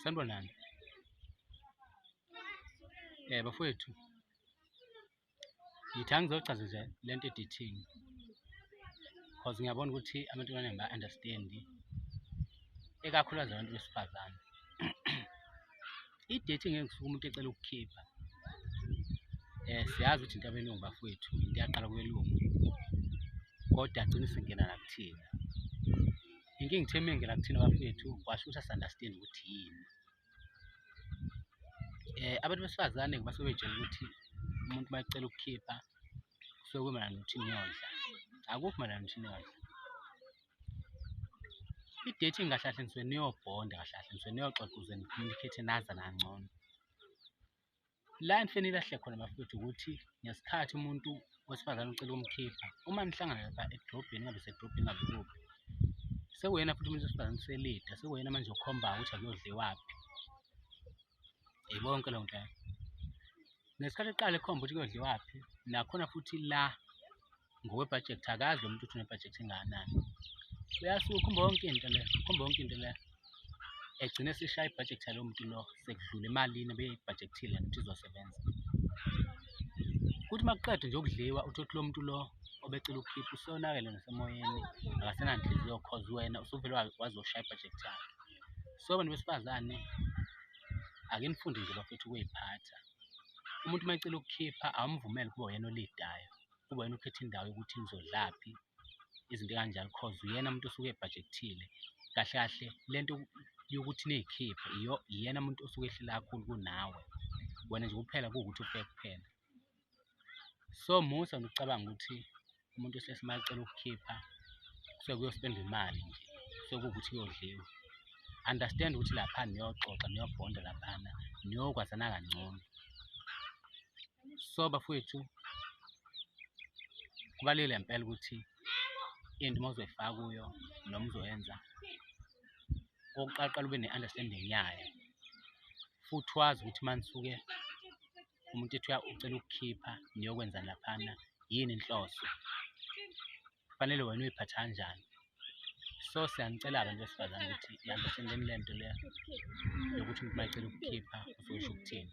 Sanibonani. Eh bafowethu. Ngithi angizochaza nje le nto edithini. Cause ngiyabona ukuthi amantombazane ba understand ikakhulukazi abantu besifazane. idethi ngeke ngisuke umuntu ecela ukukhipha um siyazi ukuthi into abelungu bafowethu into yaqala kwelungu kodwa agcine singena nakuthina inkinga ithe uma engena kuthina bafowethu kwasho ukuthi asunderstand ukuthi yini um abantu besifazane basuke betshela ukuthi umuntu uma ecela ukukhipha kusuke kumayelana nokuthi niyodla akukho mayelana nokuthi niyodla I-date ingahlahle nisuke niyobhonda kahle kahle nisuke niyoxoxa ukuze ni-communicate nazana kangcono. La enifike nilahle khona bafowethu ukuthi ngesikhathi umuntu wesifazane ucela ukumkhipha, uma nihlangana lapha edrobheni ingabe isedrobheni ingabe ikuphi, sekuwuyena futhi umuntu wesifazane uselida, sekuwuyena manje okhombayo ukuthi akuyodliwaphi. Yayibona yonke leyo nto leyo. Ngesikhathi eqala ekhomba ukuthi kuyodliwaphi, nakhona futhi la ngokwebhajethi akazi lo muntu ukuthi unebhajethi engakanani uyasuka ukhomba yonke into le ukhomba yonke into le egcine sishaya ibhajethi yalowo muntu lo sekudlula emalini ebeyibhajekthile ukuthi izosebenza kuthi uma kuqeda nje ukudliwa uthi ukuthi lo muntu lo obecela ukukhipha usonakele nasemoyeni akasenanhliziyo cause wena usuvele wazoshaya ibhajethi yakhe so bantu besifazane ake nifunde nje bafethu ukuyiphatha umuntu uma ecela ukukhipha awumvumele ukuba uyena olidayo kuba yena ukhetha indawo yokuthi ngizodlaphi izinto ekanjalo cause uyena muntu osuke ebhajekthile kahle kahle le nto yokuthi niyikhiphe iyena muntu osuke ehlela kakhulu kunawe wena nje kuphela kuwukuthi ufike kuphela so musa nokucabanga ukuthi umuntu osesimali cela ukukhipha kusuke kuyospenda imali nje kusuke kuwukuthi kuyodliwa understand ukuthi lapha niyoxoxa niyobhonda laphana niyokwazana kangcono so bafowethu kubalulekile ngempela ukuthi into uma uzoyifaka kuyo noma uzoyenza okokuqala ube ne-understanding yayo futhi wazi ukuthi uma nisuke umuntu ethi ucela ukukhipha niyokwenza laphana yini inhloso kufanele wena uyiphathe kanjani so siyanicela abantu besifazane ukuthi ihambiseni le nto le yokuthi umuntu uma ecela ukukhipha uzoyisho ukuthini